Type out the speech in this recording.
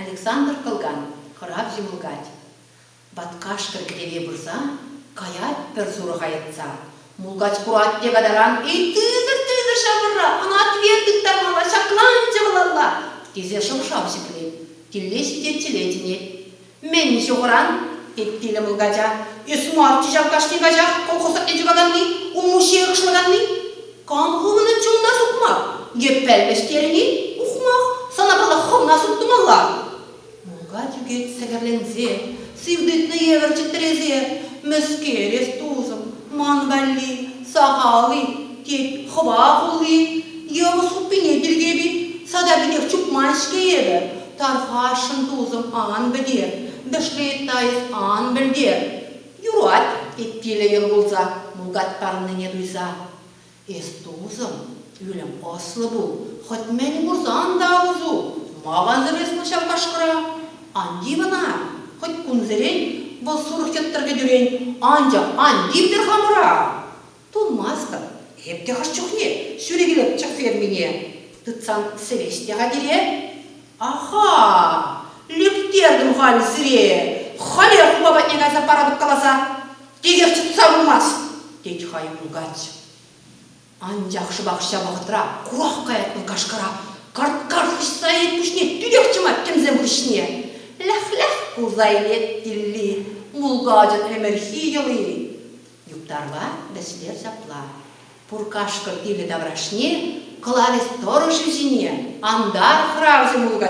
Александр кӑлкан хӑрав ҫӑмӑлкать. Ваткашкӑр кӗтӗве пырса каять пӗр сурӑха йӑтса. Мулкач курать те катаран эй тытӑр, тытӑр ҫавӑрра, ӑна тверь тыттармалла, ҫакланчӗ вӑлалла, тесе шӑв-шав ҫӗклет, тилле ҫитет чӗле чӗнет. Мӗн ҫухӑран? ыйтрӗ мулкача. Эс марччӗ ҫав кашни каҫах колхозатне чӑкаканни, улмуҫҫи ӑрӑхлаканни. Кам хӑвнӑн чунна сукмак? Йӗппел вӗҫтерни? Ухмах, сана пала хӑвна суптумалла. Мулкач ӳкет сӗкӗрленсе, сив тытнӑ евӗр чӗтресе. Мӗскер эс, тусӑм, ман валли сахал-и, тет хӑва хулли. Йывӑс хуппине тиркеп-и? Сада пекех чупман-ҫке эпӗ. Тавхашӑн тусӑм ан пӗте, Дышлеетайӑх ан пӗлте. Юрать, тет Тиля йӑл кулса, мулкатпаннине туйса. Эс, тусӑм, ӳлӗм ӑслӑ пул, хӑть мӗн курсан та усу, ма вансӑр эс вӑл ҫав кашкӑра? Ан тив ӑна, хӑть кунсерен вӑл сурӑх йӑттӑр кӗтӳрен, анчах ан тивтӗр хамӑра! Пулмастӑп эп те хӑш чухне ҫӳрӗ килӗччӗ фермине. Тытсан сӗвеҫ те-ха пире. Аха-а, лӳктертӗм халь сире, халех хула патне кайса паратӑп каласа. Текех чӑтса пымасть, тет хай мулкач. Анчах шӑпах ҫав вӑхӑтра курах каять вӑл кашкӑра. Карт-карт хыҫса илет пуҫне, тӳрех чӑмать тӗмсем хыҫне. Лях-лях кулса илет Тилли мулкачӑн ӗмӗрхи йӑли. Юптарла вӗслер ҫапла. Пур кашкӑр ивлӗ таврашне кӑларӗҫ тӑрӑшӗ ҫине, антар хӑравҫӑ мулкач